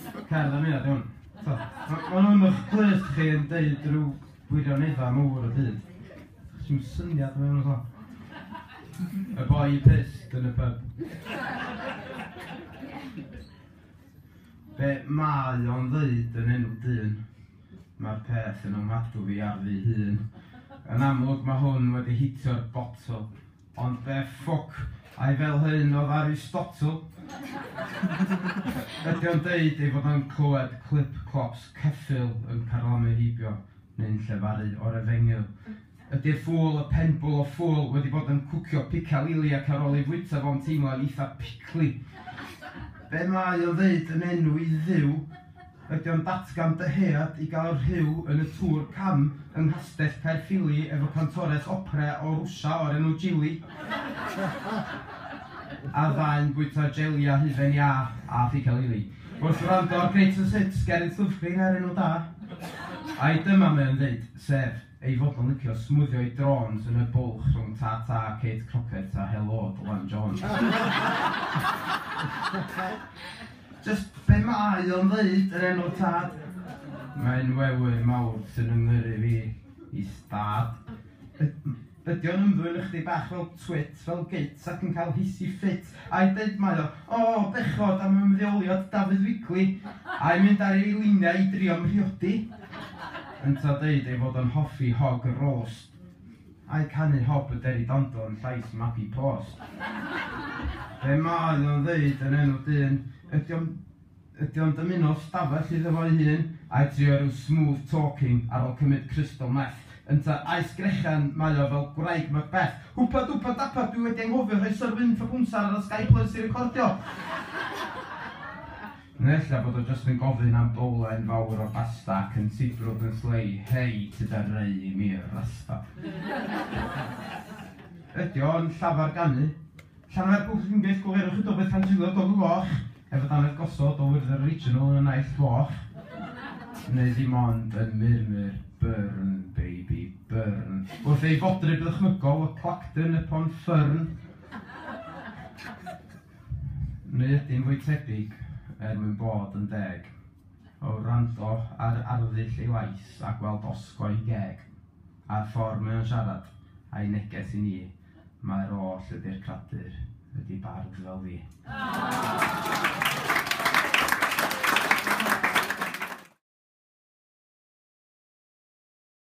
Cerdd am eiliad, iawn. Tibod, ma' ma' nhw yn eich clust chi yn deud rhyw wirioneddau mawr o hyd. Dach chi'm yn syniad be' ma' nhw'n sôn. Y boi pyst yn y pyb. Be' mae o'n ddeud yn enw dyn? Mae'r peth yn ofnadwy ar fy hun. Yn amlwg ma' hwn wedi hitio'r botwm. Ond be ffwc ai fel hyn oedd Aristotle? Ydy o'n deud ei fod o'n clywed clip-clops ceffyl yn carlamu heibio neu'n llefaru o'r efengyl? Ydy'r ffŵl, y penbwl o ffŵl, wedi bod yn cwcio picalili ac ar ôl ei fwyta fo'n teimlo'n eitha picli? Be mae o'n ddeud yn enw i Dduw? Ydy o'n datgan dyhead i gael rhyw yn y Tour Cam yng Nghastell Caerffili efo cantores opera o Rwsia o'r enw Jili? A'r ddau'n bwyta jeli a hufen iâ a phica lili. Wrth wrando ar Greatest Hits, Geraint Llyfrgrin er enw da. Ai dyma mae o'n ddeud, sef. Ei fod o'n licio smwddio'i drôns yn y bwlch rhwng Ta Ta, Kate Crockett a Helo, Dylan Jones. Just be mae o'n ddeud, yr enw tad? Mae'n wewyn mawr sy'n fy ngyrru fi i stad. Yd- ydy o'n ymddwyn ychydig bach fel twit, fel gyt ac yn cael hissy fit? Ai deud mae o, o bechod am ymddeoliad Dafydd Wigley, ai mynd ar ei liniau i drio'n mhriodi? Yntau deud ei fod o'n hoffi hog y roast, ai canu Hob y Deri Dando yn llais Mabie Post? Be mae o'n ddeud yn enw dyn, ydy o'n... Ydy o'n dymuno stafell iddo fo'i hun? Ai trio ryw smooth talking ar ol cymyd crystal meth? Ynta, aes grechen mae o fel gwraig Macbeth. Hwpa dwpa dapa dwi wedi anghofio rhoi Sir Wynn Trapwnsar ar y Sky Plus i recordio! Neu ella bod o jyst yn gofyn am bowlen fawr o basta ac yn sibrwd yn slei, Hei, ti da rei i mi'r rasta. Ydy o'n llafar ganu? Llanfair Buwch Ac yn Gyll Gwelerwch y Dywydd Pan Drilio Golwg Goch Hefyd Dannedd Gosod o Wyrdder Yr Original yn y Naill Foch Neu Ddim Ond yn Murmur Burn Baby Burn Wrth ei fodryb ddychmygol o Clacton upon Fern Neu Ydi'n fwy tebyg, er mwyn bod yn deg, o wrando ar arddull ei lais a gweld osgoi geg a'r ffordd mae o'n siarad a'i neges i ni. Mae'r oll y byr cradur wedi bardd fel fi.